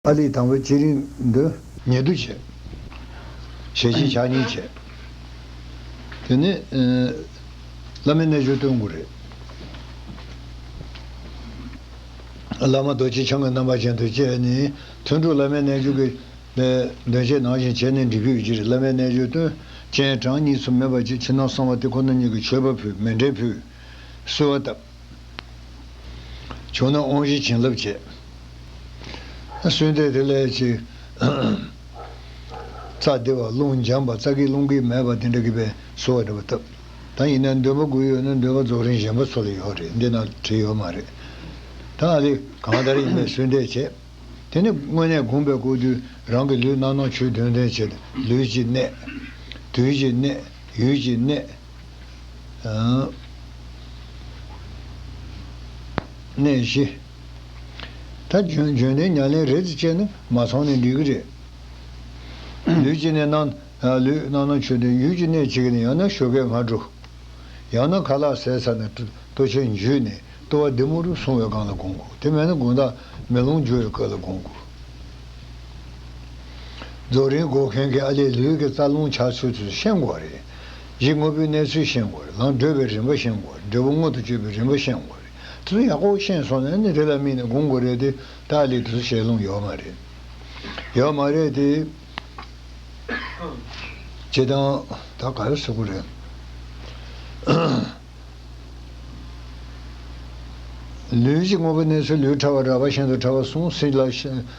ཨཱ་ལི་དང་བོའི་སྤྱི་རིང་འདོན། ཉེ་དུ་བྱེད། ཞལ་གཅིག་ཕྱག་གཉིས་བྱེད། དེ་ནི། བླ་མའི་རྣལ་འབྱོར་སྟོན་དགོས་རེད། བླ་མ་རྡོ་རྗེ་འཆང་གི་རྣམ་པ་ཅན་དུ་བསྐྱེད་ནས་ཐུན་དྲུག་བླ་མའི་རྣལ་འབྱོར་གྱི། འདོན་ཆས་ནང་བཞིན་བྱས་ནས་འབྲི་དགོས་ཀྱི་རེད་བླ་མའི་རྣལ་འབྱོར་སྟོན། སྤྱན་དྲངས་གཉིས་སུ་མེད་པ་གཅིག་ཕྱི་ནང་གསང་བ་སྟེ་ཁོ་ན་ཉིད་ཀྱི་མཆོད་པ་ཕུལ་མེ་འབྲས་ཕུལ། གསོལ་བ་བཏབ། བྱུང་ན་དབང་བཞི་བྱིན་རླབས་བྱེད། གསོལ་འདེབས་དེ་ལས་ཀྱི། རྩ་བདེ་བ་རླུང་འཇམ་པ་རྩ་སྐྱེས་རླུང་སྐྱེས་མེད་པ་དེ་འདྲ་གི་པའི་སོ་བ་འདྲ་པོ་བཏབ། ད་ཡིན་ན་འདོད་པ་དགུ་ཡོད་ན་འདོད་པ་རྫོགས་རིང་གཞན་པ་ཚོ་ལ་ཡོད་རེད་འདི་ན་བྲིས་ཡོད་མ་རེད། ད་འདི་གང་ལྟར་ཡིན་པའི་གསོལ་འདེབས་བྱེད། དེ་ནས་དངོས་གནས་བསྒོམས་པས་བསྐུར་དུས་རང་གི་ལུས་རྣམ་སྣང་ཆོས་བདུན་ལྡན་བྱེད། ལུས་ཀྱི་གནད། དུས་ཀྱི་གནད། ཡུལ་གྱི་གནད། གནས་བཞི། ད་འཇོན་འཇོན་ནས་ཉྭ་ལེན་རེད་ཅེས་ནི་མ་ཚང་ནི་འགྲིག་གི་རེད། ལུས་ཀྱི་ནད་ནང་ལུས་ནང་ནང་ཆུ་དེ་ཡུལ་གྱི་གནས་གཅིག་ནས་ཡང་ན་ཞོ་གས་ང་དྲུག། ཡང་ན་ཁ་ལག་ཟས་ཚར་ནས་ལྟོ་ཆས་འཇུས་ནས་ལྟོ་བ་དེ་མུ་རུ་སོང་བའི་སྒང་ལ་དགོང་དགོས་དེ་མེད་ན་དགུན་དག་མེ་ལོང་འཇུ་བའི་སྐབས་ལ་དགོང་དགོས། རྫོགས་རིང་སྒོ་མཁན་གྱིས་ཨ་ལས་ལུས་ཀྱི་རྩ་རླུང་ཆགས་ཚུལ་དུ་ཤེས་དགོས་པ་རེད། གཞི་དངོས་པོའི་གནས་ཚུལ་ཤེས་དགོས་རེད་ལང་བགྲོད་པའི་རིན་པ་ཤེས་དགོས་རེད་འབྲས་བུ་མངོན་དུ་སྤྱོད་པའི་རིན་པ་ཤེས་དགོས་རེད་དེ་ཚོ་ཡག་པོ་ཤེས་སོང་ནས་ནི་དེ་ལ་དམིགས་ནས་སྒུག་དགོས་རེད་དེ་ཏཱ་ལའི་དེ་ཚོ་བཤད་ལུང་ཡོད་མ་རེད་ཡོད་མ་རེད་དེ། བྱེད་སྟངས་ད་ག་རེ་བཟོ་གི་རེད། ལུས་གཞི་དངོས་པོའི་གནས་ཚུལ་ལུས་ཕྲ་བ་ར་བ་ཤིན་ཏུ་ཕྲ་བ་སོང་སྲིད་ལ།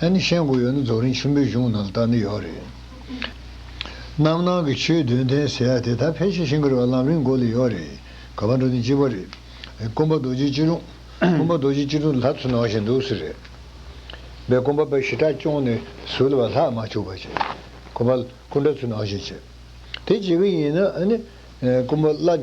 ཨ་ནི་བཤད་དགོས་ཡོད་ན་རྫོགས་རིང་ཆེན་པོའི་གཞུང་ནང་ལྟར་ནི་ཡོད་རེད། རྣམ་སྣང་གི་ཆོས་བདུན་ལྡན་ཟེར་ཡ་དེ་དག་ཕལ་ཆེར་ཤིང་ཀེ་རི་བ་ལམ་རིམ་འགོ་ལས་ཡོད་རེད། ག་པར་འགྲོ་ནི་གཅིག་པ་རེད། དཀོན་པ་རྡོ་རྗེ་སྐྱིད་ལུང། དཀོན་པ་རྡོ་རྗེ་སྐྱིད་ལུང་ལྷ་ཚོ་ནང་བཞིན་འདུག་ཟེར་རེད། བས་དཀོན་པ་པའི་ཞི་དྲག་སྐྱོང་ནི་ཟུར་ལ་བ་ལྷག་མ་བཅུག་པ་བྱས། དཀོན་པ་སྐུ་འདྲ་ཚོ་ནང་བཞིན་བྱས། དེ་བྱེད་གི་ཡིན་ན་ཨ་ནི་དཀོན་པ་བླ།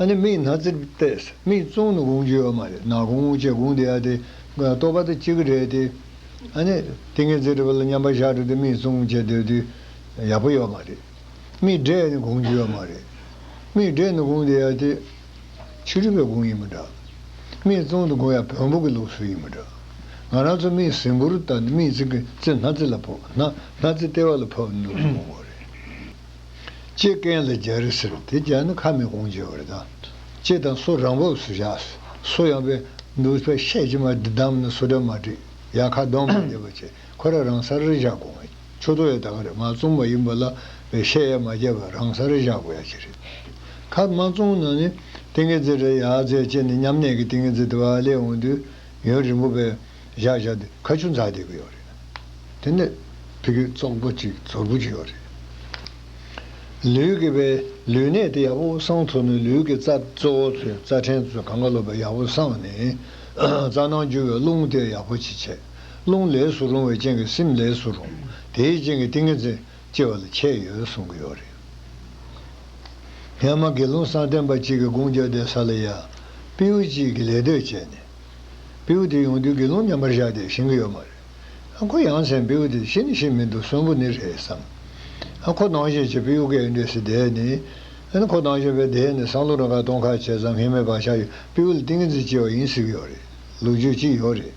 ཨ་ནི་མིག་ནག་ཙིར་བལྟས། མིག་བཙུམ་ནི་དགུང་བཅུའི་ཨ་མ་རེད། ནག་གུང་བཅས་དགུང་དེ་ཡ་དེ། ལྟོ་ཕ་ད་ཅི་གི་རེད་དེ། ཨ་ནི། དེ་ངས་ཙིར་བལྟས་མཉམ་པར་བཞག་འགྲོ་དུས་མིག་བཙུམ་བཅས་སྡོད་དུས། ཡག་པོ་ཡོད་མ་རེད། མིག་འབྲས་ནི་དགུང་བཅུའི་ཨ་མ་རེད། མིག་འབྲས་ནི་དགུང་དེ་ཡ་དེ། ཕྱི་རུས་པའི་དགུང་ཡིན་མི་འདྲ། མིག་བཙུམ་དུ་དགུང་ཡ་བོན་པོ་གི་ལུགས་སུ་ཡིན་མི་འདྲ། ང་རང་ཚོ་མིག་ཟིམ་བུར་བལྟ་ནི་མིག་ཙིར་གྱིས་ཙིར་སྣ་ཙིར་ལ་ཕོག། སྣ་སྣ་ཙིར་ལྟེ་བ་ལ་ཕབ་ནི་དགུང་བོ་རེད། ལྕེ་ཀན་ལ་སྦྱར་རི་ཟེར་བ་དེ་སྦྱར་ན་ཁ་མི་གོང་བྱེད་པར་དང། ལྕེ་དང་སོ་རང་བབས་སུ་བཞག། སོ་ཡང་པས་འདུག་པས་ཤད་ཀྱིས་མ་བསྡམས་ན་སོ་སྒྲ་མ་འདྲེས་ཡང་ཁ་གདོང་མི་བདེ་བར་བྱེད་ཁོ་ར་རང་སར་རི་བཞག་གོང་ཆོད་དོ་ཡ་ད་ག་རེ་མ་བཙོང་བ་ཡིན་པ་ལ་བས་ཤད་ཡ་མ་བརྒྱབ་པར་རང་སར་རི་བཞག་གོ་ཡ་ཅི་རེད། ཁ་མ་བཙོང་ན་ནི་ཏིང་ངེ་འཛིན་རེད་ཡ་རྫས་ལྕེ་ནི་མཉམ་གནས་ཀྱི་ཏིང་ངེ་འཛིན་དེ་བ་ལས་འོང་དུས་ཡུན་རིང་པོ་བས། བཞག་བཞག་སྟེ་ཁ་ཆུ་འཛག་བསྡད་ཀྱི་ཡོད་རེད། དེ་ནས་ཕི་གེ་བཙོག་པོ་ཅིག་ཚོར་བུ་ཅིག་ཡོད་རེད། ལུས་ཀྱི་བའི་ལུས་གནད་དེ་ཡག་པོ་སངས་ཐུབ་ན་ལུས་ཀྱི་རྩ་གཙོ་བོ་ཚོས་རྩ་ཕྲན་ཚོས་གང་ག་ལོ་བས་ཡག་པོ་སངས་ནས། རྩ་ནང་རྒྱུ་བའི་རླུང་དེ་ཡག་པོ་ཅིག་བྱས། རླུང་ལས་སུ་རུང་བའི་རྐྱེན་གྱིས་སེམས་ལས་སུ་རུང། དེའི་རྐྱེན་གྱིས་ཏིང་ངེ་འཛིན་སྐྱེ་བ་ལ་ཁྱད་ཡོད་གསུང་གི་ཡོད་རེད། ངས་མ་དགེ་སློང་བསམ་གཏན་པ་གཅིག་གི་དགུང་བརྒྱ་འདས་ས་ལ་ཡ། པིའུ་གཅིག་གི་ལས་དོད་བྱས་ནས། བེའུ་དེ་ཡོང་དུས་དགེ་སློང་མཉམ་པར་བཞག་སྟེ་བཞེངས་ཀྱི་ཡོད་མ་རེད། ཨ་ཁོ་ཡང་མཚན་བེའུ་དེ་ཅི་ནི་ཞིག་མིན་འདུག་གསོན་པོ་ནི་རེད་བསམ། ཨ་ཁོ་སྣང་ཞེས་བྱེད་བེའུ་ཀའི་འདྲེ་སི་དེ་ནི། ཨ་ཁོ་སྣང་ཞེས་པའི་དེ་ནི་སང་ལོ་རང་ཁ་སྟོང་ཁ་བྱས་ཙང་ངེས་མེད་བག་ཆགས་ཡོད་བེའུ་ལ་ཏིང་ངེ་འཛིན་སྐྱེ་བ་ཡིན་ཟེར་གྱི་ཡོད་རེད་ལུག་རྒྱུད་ཅིག་ཡོད་རེད།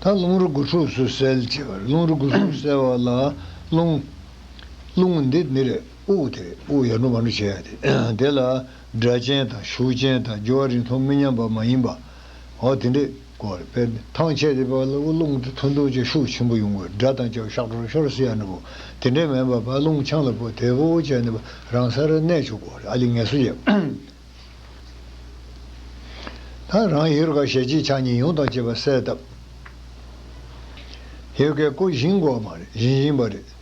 ད་རླུང་རོ་གུ་ཕྲུགས་སུ་སེལ་ཅེས་པར་རླུང་རོ་གུ་ཕྲུགས་སུ་སེལ་བ་ལ་རླུང། རླུང་འདི་ནི་རེད་དབུགས་དེ་རེད་དབུགས་ཡར་འགྲོ་མར་འགྲོ་བྱེད་ཡ་དེ་ལ། སྒྲ་གཅན་དང་ཤུགས་གཅན་དང་སྦྱོར་བ་རིང་མཐོང་མི་མཉམ་པ་མ་ཡིན་པའོ། དེ་འདྲའི་སྐོར་དཔེར་ན་ཐང་ཆད་དེ་བལ་བུ་རླུང་དུ་འཐུ་འཐུ་བྱས་ཤུགས་ཆེན་པོ་ཡོང་དགོས་སྒྲ་དང་སྦྱར་ཤག་ཤོར་ཤོར་སེ་ཡ་ནི་བོ། དེ་འདྲའི་མེད་པར་བལ་རླུང་ཆང་ལ་བོ་དེ་བོ་བོ་བྱས་ནི་བོ་རང་ས་ར་གནས་ཆོག་གོ་ཨ་ལི་ངལ་གསོ་བྱས། ད་རང་ཡུལ་དགའ་ཞལ་གཅིག་ཕྱག་གཉིས་ཡོངས་དང་བཅས་པ་གསལ་བཏབ། ཡོད་སྐད་ཀོ་བཞིན་གོ་བ་མ་རེད་བཞིན་བཞིན་པ་རེད།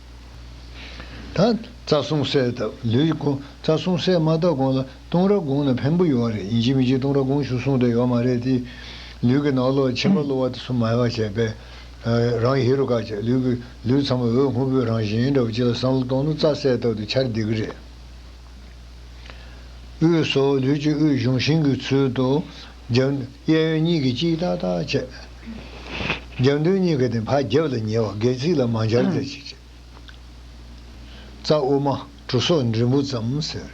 ད་རྩ་གསུམ་གསལ་བཏབ་ལུས་ཀྱི་སྐོར་རྩ་གསུམ་གསལ་མ་བཏབ་གོང་ལ་ལྟུང་ར་དགོངས་ན་ཕན་པོ་ཡོད་བ་རེད་ཡིན་གཅིག་མི་གཅིག་ལྟུང་ར་དགོངས་ཞུ་གསུངས་དེ་ཡོད་མ་རེད་དེ། ལུས་ཀྱི་ནང་ལོགས་ཕྱི་མ་གློ་བ་དེ་ཚོ་མ་ཡག་བྱས་པས། རང་ཧེ་རུ་ཀ་བྱས་ལུས་ཀྱི་ལུས་ཚང་མ་འོད་སྔོན་པོའི་རང་བཞིན་འདྲ་བོ་ཅིག་ལ་བསམ་བློ་གཏོང་ན་རྩ་གསལ་བཏབ་དུ་འཆར་བདེ་གི་རེད། དབུས་སོ་ལུས་ཀྱི་དབུས་གཞུང་ཤིང་གི་ཚུལ་དུ་རྒྱབ། གཡས་གཡོན་གཉིས་ཀྱིས་ཅིག་ཏག་ཏག་བྱས། རྒྱབ་མདུན་གཉིས་ཀྱིས་ནི་བར་རྒྱབ་ལ་ཉེ་བ་སྒལ་ཚིགས་ལ་མ་འབྱར་བརྒྱར་ཅིག་བྱས། རྩ་དབུ་མ་གྲུ་སོགས་འབྲིང་པོ་ཙམ་ཟེར།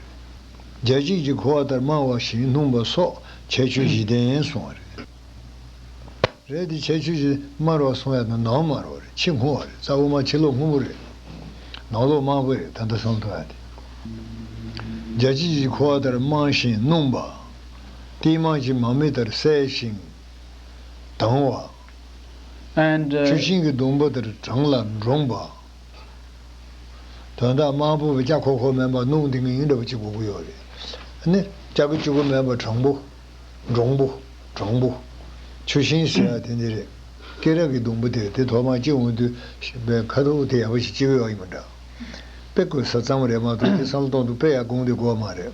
རྒྱལ་གཅིག་ཅིག་གོ་བ་ལྟར་སྨྲ་བ་བཞིན་སྣུམ་པ་སོགས་ཁྱད་ཆོས་བཞི་ལྡན་གསུང་བ་རེད། རེད་དེ་ཁྱད་ཆོས་བཞི་དམར་བ་གསུང་ཡ་ན་ནང་དམར་བ་རེད་ཕྱི་སྔོ་བ་རེད་རྩ་དབུ་མ་ཕྱི་ལོགས་སྔོན་པོ་རེད། ནང་ལོགས་དམར་པོ་རེད་ད་ལྟ་གསུང་ཐུབ་ཡ་དེ། རྒྱལ་གཅིག་ཅིག་གོ་བ་ལྟར་སྨྲ་བཞིན་སྣུམ་པ། ཏིལ་མར་གྱི་མར་མེ་ལྟར་གསལ་ཞིང་དྭངས་བ། and། ཆུ་ཤིང་གི་སྡོང་པོ་ལྟར་གྲང་ལ་འདྲོངས་པ། དོན་དག་དམར་པོ་བའི་ལྕགས་ཁོག་ཁོག་མེད་པ་སྣུམ་ཏིང་ངེ་འདྲ་བ་གཅིག་གོ་གི་ཡོད་རེད་ནི། ལྕགས་ཀྱི་ཆུ་ཁོག་མེད་པ་གྲང་པོ། འདྲོངས་པོ། གྲང་པོ། ཆུ་ཤིང་ཟེར་བ་དེ་འདི་རེད། སྐེ་རགས་ཀྱི་སྡོང་པོ་དེ་རེད་དེ་ཐོག་མར་སྐྱེ་འོང་དུས་པའི་ཁ་དོག་དེ་ཡག་པོ་ཞིག་སྐྱེ་གི་ཡོད་ཡིན་པ་འདྲ། དཔེ་དགོས་ས་གཙང་མ་རེད་མ་གཏོགས་དེ་བསམ་བློ་གཏོང་དུ་དཔེ་ཡག་དགོངས་དེ་དགོས་མ་རེད།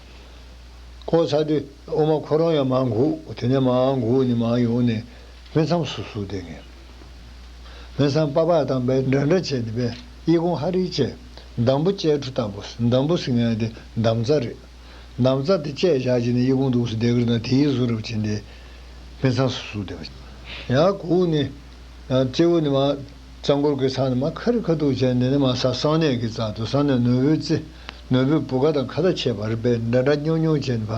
ཁོ་ཚ་དུས་ཨོ་མ་ཁོ་རང་ཡང་མ་འགུགས་དེ་ནས་མ་འགུགས་ནས་མ་ཡོང་ནས་སྨན་ཚམ་སུ་སུ་བསྡད་ངེས། སྨན་ཚམ་པགས་པགས་དང་པད་འདྲ་འདྲ་བྱས་ནས་པད་དབྱི་གུང་ཧ་རི་བཅས་འདམ་བུ་བཅས་ཁྲུ་དང་པོ་འདམ་བུ་ཟིང་ངན་དེ་འདམ་རྩྭ་རེད། འདམ་རྩྭ་དེ་བཅས་བཞག་བྱས་ནས་དབྱི་གུང་འདུགས་སུ་བསྡད་གི་རེད་ན་དེའི་བཟོ་རབ་བྱས་ནས་སྨན་ཚམ་སུ་སུ་བསྡད། ཡང་གུགས་ནས་སྐྱེ་བོ་ནས་མ་རྩྭ་འགོར་གི་ཚང་ནས་མ་ཁ་རི་ཁ་ཐུག་བྱས་འདི་ནས་མ་ས་གསང་གནས་ཀྱི་རྩ་དུ་གསང་གནས་ནོར་བུའི་རྩེ། ནོར་བུའི་བུ་ག་དང་ཁ་ད་ཆད་བར་པའི་འདྲ་འདྲ་སྨྱོ་སྨྱོ་ཅན་བ་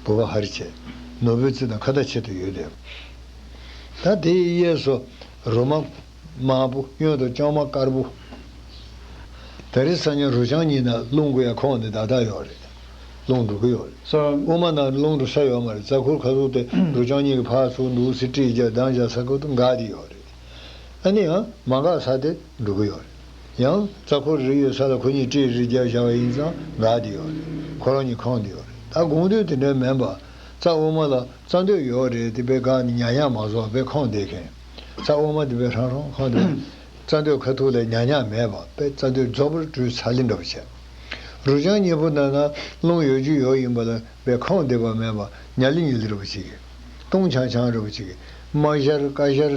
བུ་ག་ཧར་ཆད། ནོར་བུའི་རྩི་དང་ཁ་ད་ཆད་དུ་ཡོད་དེ། ད་དེའི་གཡས་སུ། རུ་མ། དམར་པོ་གཡོན་དུ་ལྕང་མ་དཀར་པོ། ད་རི་ས་ཉ་རུ་ལྕང་གཉིས་ན་རླུང་གི་ཡ་ཁོག་ནི་དག་དག་ཡོག་རེད། རླུང་འགྲོ་གི་ཡོག་རེད། དབུ་མ་ན་རླུང་འགྲོ་ས་ཡོག་མ་རེད་རྩ་འཁོར་ཁ་ཟུག་སྟེ་རུ་ལྕང་གཉིས་གི་ཕ་ཚུགས་འདུག་སི་ཀྲིས་རྒྱག་གདང་རྒྱག་ས་ཁུག་ཏུ་འགག་དེ་ཡོག་རེད། ཨ་ནི་ཡང་མ་འགག་ས་དེ་འགྲོ་གི་ཡོག་རེད། ཡང། རྩ་འཁོར་རེ་ཡོད་ས་ལ་ཁོ་གཉིས་སྤྲེའི་རི་བརྒྱར་བཞག་པ་ཡིན་ཙང་འགག་བསྡད་ཡོད་རེད། ཁོ་རང་གཉིས་ཁང་དུ་ཡོད་རེད་ད་དགོང་དུས་དེ་འདྲ་མིན་པར། རྩ་དབུ་མ་ལ་རྩ་འདོད་ཡོད་རེད་དེ་བས་གང་ནི་ཉག་ཉག་མ་བཟོ་བ་བས་ཁང་བསྡད་མཁན། རྩ་དབུ་མ་དེ་བས་ཧྲང་ཧྲོང་ཁང་དུ། རྩ་འདོད་ཁ་ཐུག་ལས་ཉག་ཉག་མེད་པ་བས་རྩ་འདོད་རྫོགས་པར་སྤྲོའི་ཚ་ལེ་འདྲ་པོ་བྱས། རུ་ཆང་གཉིས་པོ་ནང་ན་རླུང་ཡོད་རྒྱུ་ཡོད་ཡིན་པ་ལ་བས་ཁང་བསྡད་པ་མེད་པར་ཉལ་ལི་ཉུལ་ལི་ར་པོ་ཅིག་གིས། ཏུང་ཆང་ཆང་ར་པོ་ཅིག་གིས། མ་བཞར་ཀ་བཞར།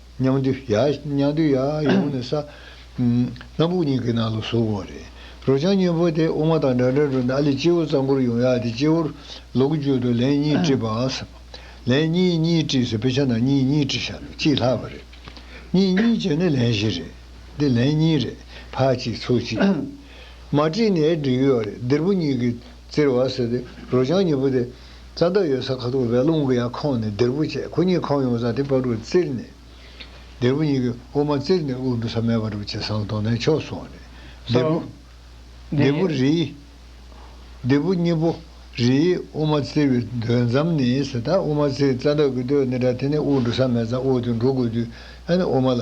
མཉམ་འདུས་ཡ། མཉམ་འདུས་ཡ། ཡོང་ནས་ས། སྣ་བུག་གཉིས་ཀྱི་ནང་ལ་ཟུག་གོ། རེ། རོ་ལྗང་སྙིང་པོ་དེ་དབུ་མ་དང་འདྲ་འདྲ་འགྲོ་ནས་ཨ་ལས་སྤྱི་བོ་རྩ་འཁོར་ཡོང་ཡ་དེ་སྤྱི་བོར། ལོགས་བརྒྱུད་དུ་ལན་གཉིས་བཀྲིས་པ་འང་སྲིད། ལན་གཉིས་གཉིས་བཀྲིས་སེ་དཔེ་ཆ་ནང་གཉིས་གཉིས་བཀྲིས་ཤག་རེད་གཅིག་ལྷག་པ་རེད། གཉིས་གཉིས་བྱས་ནས་ལན་བཞི་རེད། འདི་ལན་གཉིས་རེད། ཕ་གཅིག་ཚུགས་གཅིག། མ་བཀྲིས་ནས་འགྲིག་ཡོད་རེད་འདིར་བུ་གཉིས་ཀྱིས་བཙིར་བ་སེ་དེ་རོ་ལྗང་སྙིང་པོ་དེ། རྩྭ་མདའ་ཡོད་ས་ཁ་ཐུག་རལ་རླུང་གི་ཡར་ཁོང་ནས་སྡེར་བུ་བཅད་ཁོ་གཉིས་ཁོམ་ཡོང་ས་དེ་པར་བུར་བཙིར་ནས། སྡེར་བུ་གཉིས་ཀྱི་དབུ་མ་བཙིར་ནས་དབུགས་འབུ་ས་མེད་པར་བུ་བཅད་སང་དོང་ནས་ཕྱོགས་སོང་ནས། སྡེར་བུ། སྡེར་བུ་རིའི། སྡེར་བུ་གཉིས་པོ། རིའི་དབུ་མ་བཙིར་བའི་སྡོད་མཚམས་ནི་ཟེ་ད་དབུ་མ་བཙིར་རྩྭ་མདའ་གི་སྡོད་ནི་དྲ་དེ་ནས་དབུགས་འགྲོ་ས་མེད་ཙང་དབུགས་དེ་འགྲོ་དགོས་དུས་ཨ་ནི་དབུ་མ་ལ།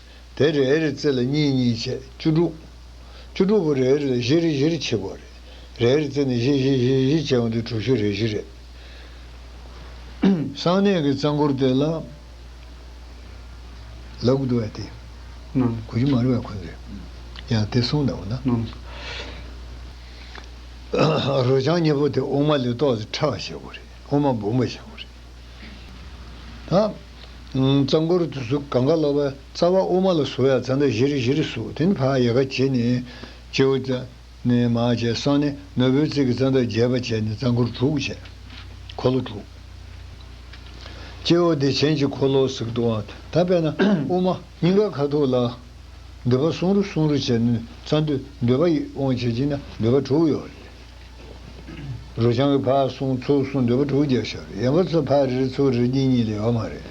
དེ་རེ་རེ་རྩེ་ལ་གཉིས་གཉིས་བཅས་བཅུ་དྲུག། བཅུ་དྲུག་པོ་རེ་རེ་ལ་བཞི་རེ་བཞི་རེ་བྱེད་དགོས་རེད། རེ་རེ་རྩེ་ནས་བཞི་བཞི་བཞི་བཞི་བྱས་བ་འདི་དྲུག་བཞི་རེ་བཞི་རེད། གསང་གནས་ཀྱི་རྩ་འཁོར་དེ་ལ་ལ་དགུ་བརྒྱ་སྟེ། དགུ་བཅུ་མ་རེ་བ་ཁོན་རེད། ཡང་དེ་གསུངས་གདའ་བ་ན། རོ་བྱང་གཉིས་པོ་དེ་དབུ་མ་ལས་རྟོགས་ཏེ་ཕྲ་བ་བྱེད་དགོས་རེད། དབུ་མ་འབུམ་པ་བྱེད་དགོས་རེད། གཙང་པོར་དུ་གཟུགས་གང་ག་ལ་བ་རྩ་བ་དབུ་མ་ལ་སོགས་ཡ་ཚ་འདྲ་བཞི་རེ་བཞི་རེ་གཟུགས་དེ་ནི་བྷ་ཡ་ག་བྱེད་ནས་སྤྱི་བོ་རྩ་ནས་མ་བྱས་སང་ནི་ནོར་བུའི་རྩིག་གི་རྩ་འདྲ་བརྒྱད་པ་བྱས་ནས་གཙང་འཁོར་དྲུག་བྱས། འཁོར་ལོ་དྲུག། སྤྱི་བོ་བདེ་ཆེན་གྱི་འཁོར་ལོའ་ཟིག་ཏུའང་ད་པས་ན་དབུ་མ་སྙིང་ག་ཁ་ཐུག་ལ་འདོད་པ་གསུང་རུ་གསུང་རུ་བྱས་ནས་རྩ་འདོད་འདོད་པ་ཡིད་དབང་བྱེད་ཀྱིས་ན་འདོད་པ་དྲུག་ཡོད་རེད། རུ་ཆང་གི་ཕག་གསུང་ཚོ་གསུང་འདོད་པ་དྲུག་བརྒྱ་ཤར་ཡན་པ་ཚོ་ཕག་རིལ་ཚོ་རིལ་གྱི་གཉིད་ལས་ཡོང་མ་རེད་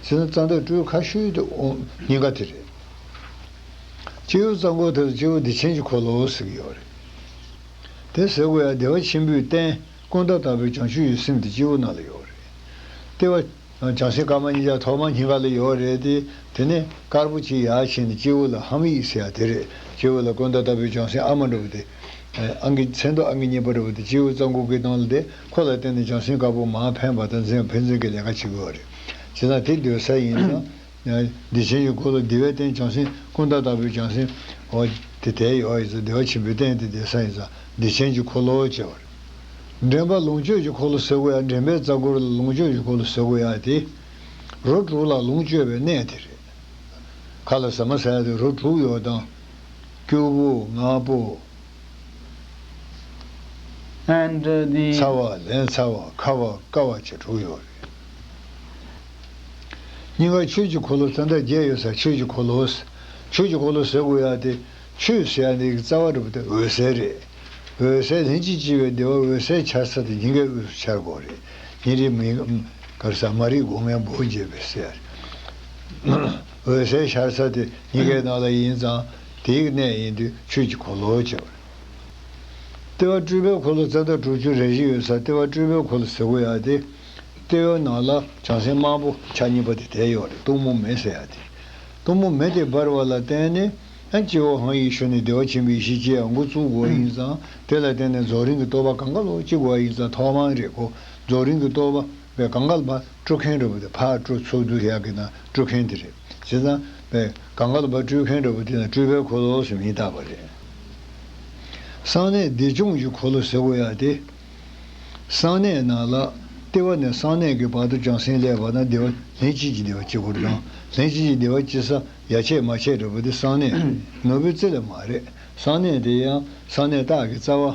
ཟེར་ན་གཙང་སྟག་སྤྲུའི་ཁ་ཤུལ་དུ་འོང་ཉེན་ཁ་དེ་རེད། སྤྱི་བོའི་གཙང་པོ་དེ་ལ་སྤྱི་བོ་བདེ་ཆེན་གྱི་འཁོར་ལོ་ཟེར་གྱི་ཡོད་རེད། དེ་ཟེར་དགོས་ཡ་བདེ་བ་ཆེན་པོའི་རྟེན་ཀུན་ད་ལྟ་བུའི་བྱང་ཆུབ་ཡུལ་སེམས་དེ་སྤྱི་བོ་ནང་ལ་ཡོད་རེད། ལྟེ་བ། བྱང་སེམས་དཀར་དམར་གཉིས་ཀ་ཐོག་མར་སྙིང་ག་ལ་ཡོད་རེད་དེ། དེ་ནས་དཀར་པོ་གཅིག་ཡར་ཕྱིན་ནས་སྤྱི་བོ་ལ་ཧམ་ཡིག་ཟེར་ཡ་དེ་རེད། སྤྱི་བོ་ལ་ཀུན་ད་ལྟ་བུའི་བྱང་སེམས་ཨ་མ་འགྲོ་བ་དེ། ཨང་ཀིའི་མཚན་ཐོ་ཨང་ཀི་གཉིས་པ་རེད་བ་དེ་སྤྱིའི་བོད་རྩ་འགུག་གིས་བཏང་ལ་དེ་ཁོ་ལ་བརྟེན་ནས་ཅང་སེན་དཀར་པོ་མང་ཕན་བ་དང་ཕན་ཚུན་གྱི་ལས་ཀ་བྱེད་དགོས་བ་རེད། བྱེད་སྟངས་དེ་འདོད་ས་ཡིན་ན། བདེ་ཆེན་གྱི་ཁོ་ལོ་བདེ་བས་བརྟེན་ཅང་སེན་ཀུན་ད་ལྟ་བུའི་ཅང་སེན་བ་དེ་དལ་ཡོ་ཡིན་ས་བདེ་བ་ཆེན་པོས་བརྟེན་ཏེ་བདེ་ས་ཡིན་ས་བདེ་ཆེན་གྱི་ཁོ་ལོ་ཅེས་བ་རེད། འདྲེན་པ་ལོངས་སྤྱོད་ཀྱི་ཁོ་ལོ་ཟེར་དགོས་ཡ་འདྲེན་པའི་རྩ་འཁོར་ལ་ལོངས་སྤྱོད་ཀྱི་ཁོ་ལོ་ཟེར་དགོས་ཡ་དེ། རོ་དྲུག་ལ་ལོངས་སྤྱོད་པའི་གནས་དེ་རེད། ཁ་ལ་ཟ་མ་ཟ་ཡ་དེ་རོ་དྲུག་ཡོ་དང། སྐྱུར་པོ་ལྔ་པོ། ཚ་བ་ལན་ཚ་བ་ཁ་བ་དཀར་བ་བཅས་དྲུག་ཡོད་རེད། སྙིང་གར་ཆོས་ཀྱི་འཁོར་ལོ་ཙནྡ་བརྒྱད་ཡོད་སར་ཆོས་ཀྱི་འཁོར་ལོ། ཆོས་ཀྱི་འཁོར་ལོ་ཟེར་དགོས་ཡ་སྟེ། ཆོས་ཟེར་ཡ་འདི་ཀྱི་རྩ་བ་གྲུབ་པ་དེ་འོད་གསལ་རེད། འོད་གསལ་ལྷན་ཅིག་སྐྱེས་པའི་བདེ་བ་འོད་གསལ་འཆར་ས་དེ་ཉིན་འགའི་དབུས་སུ་འཆར་དགོས་རེད། ཉིན་རེ་མིན། གར་ས་མ་རིག་སྒོ་ངའི་འབོ་རྒྱས་པའི་སྲས། འོད་གསལ་ཤར་ས་དེ་གཉི་གའི་ནང་ལ་ཡིན་ཙང་དེའི་གནས་ཡིན་དུས་ཆོས་ཀྱི་འཁོར་ལོ་ཅེས་པ་རེད། ལྟེ་བ་སྤྲུལ་པའི་འཁོར་ལོ་རྩ་འདབ་དྲུག་ཅུ་རེ་བཞི་ཡོད་ས་ལྟེ་བ་སྤྲུལ་པའི་འཁོར་ལོ་ཟེར་གོ་ཡ་སྟེ། ལྟེ་བའི་ནང་ལ་བྱང་སེམས་དམར་པོ་ཆ་གཉིས་པ་དེ་དེ་ཡོད་རེད་གཏུམ་མོ་མེ་ཟེར་ཡ་སྟེ། གཏུམ་མོ་མེ་དེ་འབར་བ་ལ་བརྟེན་ནས་སྤྱི་བོ་དབང་ཡིག་ཞུ་ནས་བདེ་བ་ཆེན་པོའི་ཡེ་ཤེས་སྐྱེ་ཡ་འགོ་བཙུགས་དགོས་ཡིན་ཙང་དེ་ལ་བརྟེན་ནས་རྫོགས་རིང་གི་བསྟོད་པ་གང་ག་ལོག་ཅིག་དགོས་ཡིན་ཙང་ཐོག་མང་རེད་གོ་རྫོགས་རིང་གི་བསྟོད་པ། པའི་གངས་དཀར་པར་སྤྲོད་མཁན་འདྲ་པོ་དེ་ཕར་སྤྲོད་ཚུར་སྡུད་བཞག་གི་ན་སྤྲོད་མཁན་དེ་རེད། བྱས་ཙང། པའི་གངས་དཀར་པར་སྤྲོད་མཁན་འདྲ་པོ་དེ་ན་སྤྲོད་པའི་འཁོར་ལོ་སུ་མིང་བཏགས་པ་རེད། གསང་གནས་བདེ་སྐྱོང་གི་འཁོར་ལོ་ཟེར་དགོས་ཡ་སྟེ། གསང་གནས་ནང་ལ། ལྟེ་བ་ནས་གསང་གནས་ཀྱི་བར་དུ་བྱང་སེམས་ཀླད་པར་ན་བདེ་བ། ལྷན་སྐྱེས་ཀྱི་བདེ་བ་སྐྱེ་འཁོར་དང། ལྷན་སྐྱེས་ཀྱི་བདེ་བ་སྐྱེ་ས་ཡ་ཆད་མ་ཆད་འདྲ་པོ་དེ་གསང་གནས། ནོར་བུའི་རྩེ་ལས་མ་རེད། གསང་གནས་དེ་ཡང་གསང་གནས་རྟགས་ཀྱི་རྩ་བ།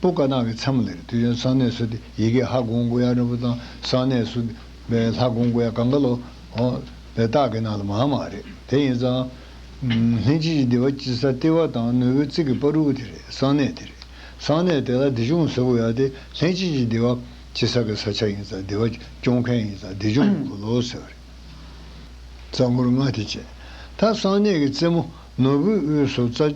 པོ་བཀའ་གདམས་ཀྱི་མཚམས་ལས་དུས་ཡོན་གསང་གནས་སུ་སྟེ་ཡི་གེ་ཧ་གོང་སྐུ་ཡང་རིན་པོ་ཚང་གསང་གནས་སུ་སྟེ་ལྷ་གོང་སྐུ་ཡང་གངྒཱ་ལོ། པའི་རྟགས་ཀྱི་ནང་ལ་མང་མ་རེད་དེ་ཡིན་ཙང། ལྷན་སྐྱེས་ཀྱི་བདེ་བ་སྐྱེ་ས་ལྟེ་བ་དང་ནོར་བུའི་རྩིག་གི་དཔའ་རུ་དེ་རེད་གསང་གནས་དེ་རེད་གསང་གནས་དེ་ལ་བདེ་སྐྱོང་ཟེར་དགོས་ཡ་དེ་ལྷན་སྐྱེས་ཀྱི་བདེ་བ་སྐྱེ་ས་གི་ས་ཆ་ཡིན་ཙང་བདེ་བ་སྐྱོང་མཁན་ཡིན་ཙང་བདེ་སྐྱོང་གི་འཁོར་ལོ་ཟེར་བ་རེད། རྩ་འཁོར་ལྔ་དེ་བཅས་ད་གསང་གནས་ཀྱི་རྩེ་མོ་ནོར་བུའི་དབུས་སུ་རྩ།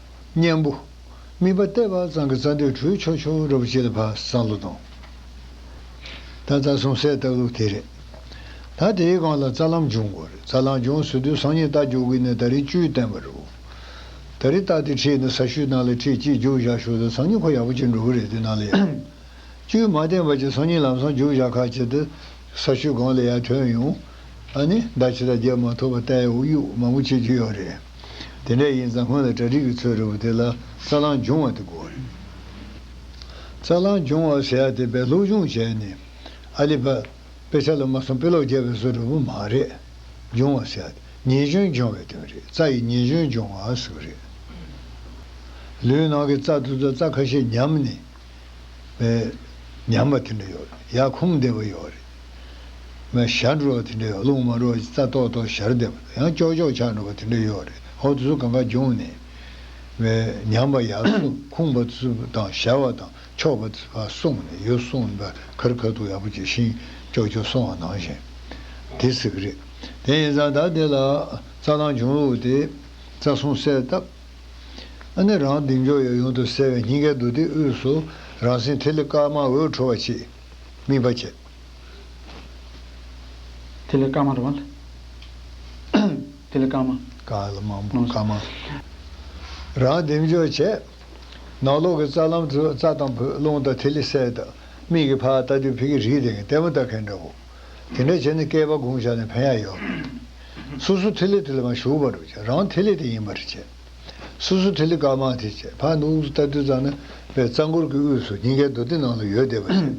གཉན་པོ། སྨིན་པ་སྟེ་བག་ཙང་གི་རྩ་འདོད་འཕྲུལ་ཆོ་ཆོ་རོ་བར་བྱེད་ལ་བག་ཙང་ལོ་དང། ད་རྩ་གསུམ་གསལ་བཏབ་ལུགས་དེ་རེད། ད་དེའི་སྒང་ལ་རྩ་ལམ་འབྱུང་དགོས་རེད་རྩ་ལམ་འབྱུང་ཟེར་དུས་སང་ཉིན་རྟ་རྒྱུག་གི་ནི་ད་རེས་བཅུའི་བསྟན་པ་རུ། ད་རེས་རྟ་དེ་ཁྲིད་ནས་ས་ཤུལ་ནང་ལ་ཁྲིད་གཅིག་རྒྱུག་བཞག་ཞོར་དུ་སང་ཉིན་ཁོ་ཡག་པོ་བྱེད་འགྲོ་གི་རེད་དེ་ནང་ལ་ཡར། བཅུའི་མ་བསྟན་པ་ཅིག་སང་ཉིན་ལམ་སང་རྒྱུག་བཞག་ཁ་བྱེད་དུ། ས་ཤུལ་སྒང་ལ་ཡར་ཐོན་ཡོང། ཨ་ནི་ཟླ་ཕྱེད་ཟླ་བརྒྱད་མ་ཐོབ་བར་རྟའི་དབུགས་དབྱུག་མང་པོ་བྱེད་རྒྱུ་ཡོད་རེད། དེ་འདྲ་ཡིན་ཙང་སྔོན་ལ་གྲ་སྒྲིག་གི་ཚོད་རེ་བོ་དེ་ལ་རྩ་རླངས་སྦྱོང་བ་དེ་དགོས་རེད། རྩ་རླངས་སྦྱོང་བ་ཟེར་ཡ་དེ་བས་སློབ་སྦྱོང་བྱས་ནས་ཨ་ལི་བྷ་དཔེ་ཆ་ལ་མ་སོང་དཔེ་ཀློག་རྒྱབ་པའི་བཟོ་རེ་བོ་མ་རེད། སྦྱོང་བ་ཟེར་ཡ་དེ་ཉེས་སྐྱོན་སྦྱོང་བའི་དོན་རེད་རྩ་ཡི་ཉེས་སྐྱོན་སྦྱོང་བ་ཟེར་བ་རེད། ལུས་ནང་གི་རྩ་ཐུར་ཚ་རྩ་ཁ་ཤས་ཉམས་ནས་ཉམས་པ་དེ་འདྲ་ཡོད་རེད་ཡ་ཁོམ་བདེ་བོ་ཡོད་རེད། ང་ཞར་འགྲོ་བ་དེ་འདྲས་རླུང་མ་རོག་ཅིག་རྩ་ཏོག་ཏོག་ཞར་འདེབས་ཡང་ལྕོག་ལྕོག་ཆགས་འགྲོ་བ་དེ་འདྲས་ཡོག་རེད་ཧོ་དུ་སུ་གང་ག་འབྱུང་ནས་བའི་ཉམས་པ་ཡག་སུ་ཁུང་བ་དུ་སུ་དང་ཞར་བ་དང་ཕྱོགས་བ་དུ་སུ་བ་སོང་ནས་ཡོ་སོང་ནས་བ་ཁར་ཁ་ཐུག་ཡག་པོ་བྱས་ཤིང་ལྕོག་ལྕོག་སོང་བ་ནང་བཞིན་དེ་ཟེར་གི་རེད་དེ་ཡིན་ཙང་ད་དེ་ལ་རྩ་ལང་འབྱུང་ལུགས་དེ་རྩ་སྲུང་གསལ་བཏབ་ཨ་ནི་རང་སྡིག་འཇོག་ཡོ་ཡོང་དུ་ཟེར་བའི་སྙིང་གའི་འདུག་སྟེགས་དབུས་སུ་རང་སེང་ཐིག་ལེ་དཀར་དམར་འོད་འཕྲོ་བ་ཆེ། དམིགས་པ་བྱེད། དེ་ལས་སྐར་མ་རུ། དེ་ལས་སྐར་མ། སྐར་ལ་མང་པོ་སྐར་མ། རང་བསྡེབས་འཇོག་བྱས། ནང་ལོགས་ཀྱི་རྩ་ལམ་དུ་རྩ་དང་བུ་རླུང་དང་ཐིག་ལེ་གསལ། མིག་གིས་ཕར་ལྟ་དུས་ཕིག་གི་རིས་དེ་ལྟད་མོ་ལྟ་མཁན་འདྲ་བོ། དེ་འདྲ་བྱས་ནས་བསྐལ་པ་འགུང་བཞག་ནས་ཕན་ཡག་ཡོད། སོ་སོ་ཐིག་ལེ་དེ་ལ་མ་ཞུགས་པར་རང་ཐིག་ལེ་དེ་ཡིན་པར་བྱས། སོ་སོ་ཐིག་ལེ་དཀར་དམར་དེ་བཅས་ཕག་གི་དབུགས་སུ་ལྟ་དུས་གཙང་ནི་བའི་རྩ་འཁོར་གྱི་དབུས་སུ་སྙིང་གའི་མདོ་སྡེ་ནང་ལ་ཡོལ་བསྡད་པ་བཞིན།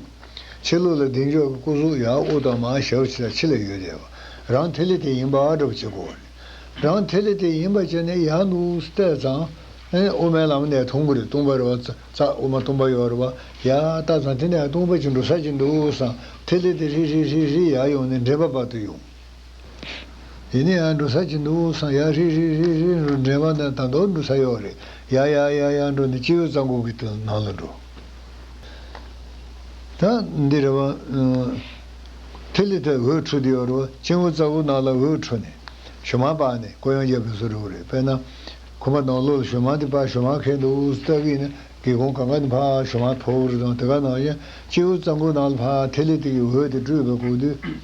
ཕྱི་ལུགས་ལ་གདེང་འཇོག་གི་སྐུ་གཟུགས་ཡང་དབུ་དང་མ་ཞབས་ཕྱི་དང་ཕྱི་ལ་ཡོལ་བསྡད་པ་རང་ཐིག་ལེ་དེ་ཡིན་པ་འདྲ་པོ་བྱེད་དགོས་པ་རེད། རང་ཐིག་ལེ་དེ་ཡིན་པ་བྱས་ནས་ཡང་གི་དབུགས་སུ་བལྟས་ཙང། དབུ་མའི་ལམ་ནས་དུང་བུ་རེ་བཏུང་བ་རེ་བ་རྩ་དབུ་མ་སྟོང་པ་ཡོད་རེ་བ་ཡར་བལྟ་ཙང་དེ་ནས་དུང་བུ་གཅིག་འགྲོ་ས་ཅིག་འདུག་སའང་ཐིག་ལེ་དེ་ཧྲིག་ཧྲིག་ཧྲིག་ཧྲིག་ཡར་ཡོང་ནས་འདྲེས་པ་བར་དུ་ཡོང། ཡེ་ནས་ཡང་འགྲོ་ས་ཅི་འདུག་སང་ཡག་རེད་རེད་རེད་རེད་འགྲོ་འདྲེན་པ་ནས་ད་མདོར་འགྲོ་ས་ཡོག་རེད་ཡག་ཡག་ཡག་ཡག་འགྲོ་ནས་སྤྱི་བོའི་རྩ་འགོག་གི་དུ་ནང་ལ་འགྲོ། ད་འདི་རེད་བ། ཐིག་ལེ་དེ་འོད་འཕྲོ་དེ་ཡོག་རེད་བ་སྤྱི་བོའི་རྩ་འགོག་ནང་ལ་འོད་འཕྲོ་ནས་ཞོ་མང་པགས་ནས་ཀོ་ཡང་རྒྱབ་ཏུ་བཟོ་རོགས་རེད་དཔེར་ན། ཁོ་པ་ནང་ལོག་ལ་ཞོ་མང་དེ་པགས་ཞོ་མང་ཁེངས་འདུག་སྟབས་ཀྱིས་ན་སྒེའུ་ཁུང་གང་ག་ནས་འཕགས་ཞོ་མང་ཕོར་བོར་དང་དེ་ག་ནང་བཞིན་སྤྱི་བོའི་རྩ་འགོག་ནང་ལ་འཕགས་ཐིག་ལེ་དེ་གི་འོད་དེ་སྤྲོས་པས་འགོག་དུས།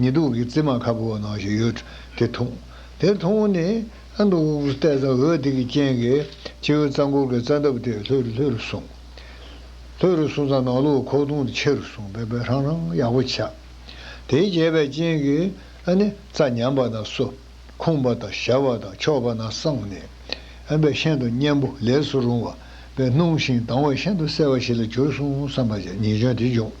ཉི་གདུགས་ཀྱི་རྩེ་མ་ཁ་བོ་བ་ནང་ཞིག་ཡོད་དེ་མཐོང། དེ་མཐོང་བ་ནི་ཨ་མདོ་དབུ་གུར་གཏད་རྫ་འོད་དེ་གི་རྐྱེན་གྱིས་སྤྱི་བོའི་རྩ་འཁོར་གྱི་རྩ་འདབ་དེ་ལྷོད་རུ་ལྷོད་རུ་སོང། ལྷོད་རུ་སོང་ཙང་ནང་ལུགས་ཁོག་སྟོང་དུ་ཆེ་རུ་སོང་བས་བས་ཧྲང་ཧྲང་ཡག་པོ་ཆགས། དེའི་རྒྱས་པའི་རྐྱེན་གྱིས་ཨ་ནི་རྩ་ཉམས་པ་དང་སོ་ཁུངས་པ་དང་ཞར་བ་དང་ཕྱོགས་པ་ན་སངས་ནས་ཨ་བས་ཤིན་ཏུ་གཉན་པོ་ལས་སུ་རུང་བ་བས་སྣུམ་ཞིང་དྭངས་བས་ཤིན་ཏུ་གསལ་བ་ཞིག་ལ་གྱུར་སོང་བསམ་པ་ཉིད་ཀྱང་དེ་འབྱུང།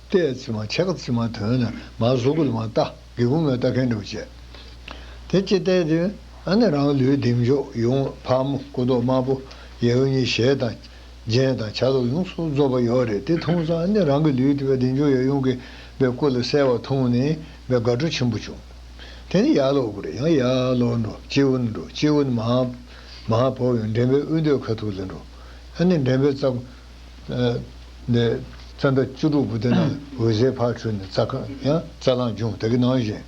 ལྟས་ཚིག་མ་ཆགས་ཚིག་མ་དོན་ནི་མ་གཟུགས་ཀུན་མ་བལྟ་དགེ་ཀུན་མ་བལྟ་མཁས་འགྲུབ་བྱེད། དེ་ཅི་ལྟས་དུས་ཨ་ནི་རང་ལུས་བདེ་མཆོག་ཡུམ་ཕག་མོ་སྐུ་མདོག་དམར་པོ་ཡེ་ཨུ་ཉི་ཞལ་དང། རྒྱན་དང་ཆ་ལུགས་ཡོངས་སུ་རྫོགས་པ་ཡོད་རེད་དེ་འཐུང་ཙང་ཨ་ནི་རང་གི་ལུས་དེ་བདེ་མཆོག་ཡབ་ཡུམ་གྱི་པའི་སྐུ་ལ་གསལ་བར་མཐོང་ནས་བའི་དགའ་སྤྲོ་ཆེན་པོ་བྱུང། དེ་ནི་ཡར་ལོག་དགུ་རེད་ཡང་ཡར་ལོག་འགྲོ་སྤྱི་བོ་ནས་འགྲོ་སྤྱི་བོ་ནས་མ་མ་བོར་བའི་འདྲེན་པའི་དབུས་མདོའི་ཁ་ཐུག་ལ་འགྲོ་ཨ་ནི་འདྲེན་པའི་རྩ། ནས་རྩ་འདབ་བཅུ་དྲུག་པོ་དེ་རྣམས་འོད་ཟེར་ཕར་འཕྲོས་ནས་རྩ་ཁང་ཡང་རྩ་རླངས་འབྱུང་དེ་གི་ནང་བཞིན།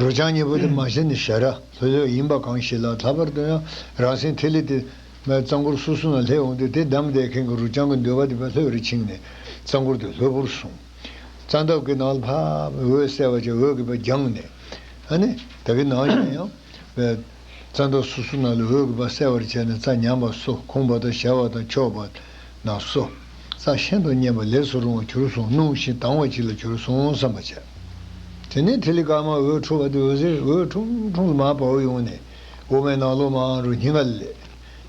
རོ་བྱང་གཉིས་པོ་དེ་མ་ཤེས་ནས་ཞལ་ར་ལྷོད་ལྷོད་ཡིན་པ་གང་ཞིག་ལ་ད་བར་དུ་ཡང་རང་སེང་ཐིག་ལེ་དེ་མའི་རྩ་འཁོར་སོ་སོ་ན་ལྷས་འོངས་ཏེ་དེ་བསྡམས་བསྡད་མཁན་གྱི་རོ་བྱང་གི་འདོད་པ་དེ་བས་ལྷོད་རེ་ཕྱིན་ནས་རྩ་འཁོར་དེ་ལྷོད་པོར་སོང། རྩ་འདབ་ཀྱི་ནང་ལ་ཕབ་འོད་གསལ་བ་ཅན་འོད་ཀྱི་བ་རྒྱངས་ནས། ནི། དེ་གི་ནང་བཞིན་ཡང། རྩ་འདབ་སོ་སོ་ན་ལས་འོད་ཀྱི་བ་གསལ་བར་བྱས་ནས་རྩ་ཉམས་པ་སོ་གོང་བ་དང་ཞལ་བ་དང་ཕྱོགས་བ་ན་སོ། རྩ་ཤིན་ཏུ་མཉེན་པ་ལས་སུ་རུང་བ་གྱུར་སོང་སྣུམ་ཞིང་དྭངས་བ་ཅིག་ལ་གྱུར་སོང་བསམ་པར་བྱ། དེ་ནས་ཐིག་ལེ་དཀར་དམར་འོད་འཕྲོ་བ་དེ་འོད་ཟེར་འོད་ཁྲུང་ཁྲུང་ལ་མར་བར་ཡོང་ནས་འོ་མའི་ནང་ལོགས་མར་རུ་སྙིང་ག་ལ་ལས།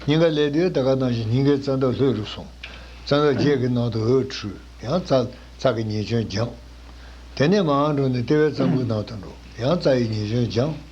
སྙིང་ག་ལས་དེའི་ད་ག་དང་བཞིན་སྙིང་གའི་རྩ་འདབ་ལྷོད་རུ་སོང། རྩ་འདབ་བརྒྱད་ཀྱི་ནང་དུ་འོད་འཕྲོས་ཡང་རྩ་རྩ་གི་ཉེས་སྐྱོན་སྦྱངས། དེ་ནས་མར་འགྲོ་ནས་ལྟེ་བའི་རྩ་འགུལ་ནང་དུ་འགྲོ་ཡང་རྩ་ཡི་ཉེས་སྐྱོན་སྦྱངས།